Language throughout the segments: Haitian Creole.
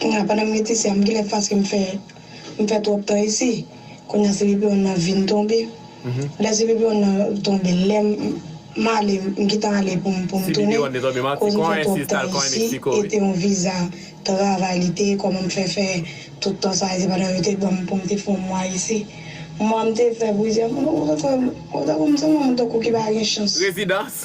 Kounya pandan m ret isi a m genlè t paske m fè m fè twòp tan isi kounya cpon nan vin tonbe lè cpon nan tonbe lè m ale m gentan ale pou m pou m tounen koz m fè twòp tan isi e te yon viza travay li te ye kòman m fè fè tout tan sa isi pandan yo te banm pou m te fè yon mwa isi mwa m te fè plizyè mwa m tankou m se yon moun tankou ki pa gen chans. Rezidans.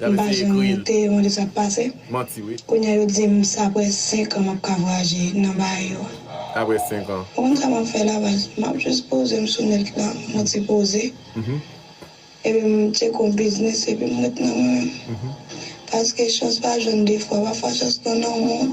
M pa janm te mande sa k pase. Kounye a yo di m se aprè 5 an m ap ka vwayaje nan baay yo. Ou konn sa m ap fè Laval? M ap jis poze m sou nèt la, m yon ti poze. Epi m tcheke yon biznis epi m ret nan mwen menm. Paske chans pa jwenn 2 fwa. Pafwa chans nan nanm ou.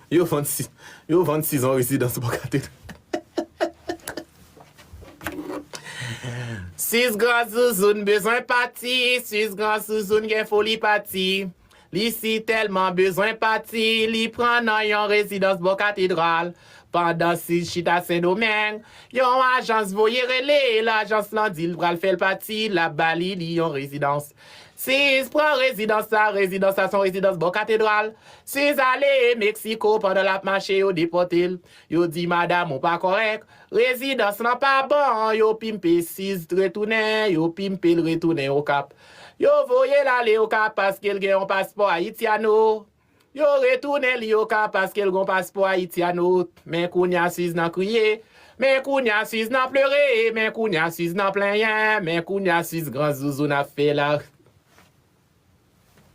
Yo vann si Yo vann sizon rezidans bò katedral Sis gran zouzoun bezwen pati Sis gran zouzoun gen foli pati Li si tèlman bezwen pati Li pran nan yon rezidans bò katedral Pandan Sis chita Sendomeng Yon ajans voye rele l Ajans lan di l pral fè l pati L ap ba li li yon rezidans Siz pran rezidans sa, rezidans sa son rezidans bò katedral, Siz ale e Mexico pandan lap mache yo depòtel, yo di madam ou pa kòrèk, rezidans lan pa bon yo pimpe Siz t retounen yo pimpel retounen okap, yo voyel ale okap paskel gen yon paspò Haitiano. Yo retounen li yo ka paskel gon paspò ayitiano men kounya siz nan kriye men kounya siz nan pleure men kounya siz nan plenyen men kounya siz gran zouzoun ap fela.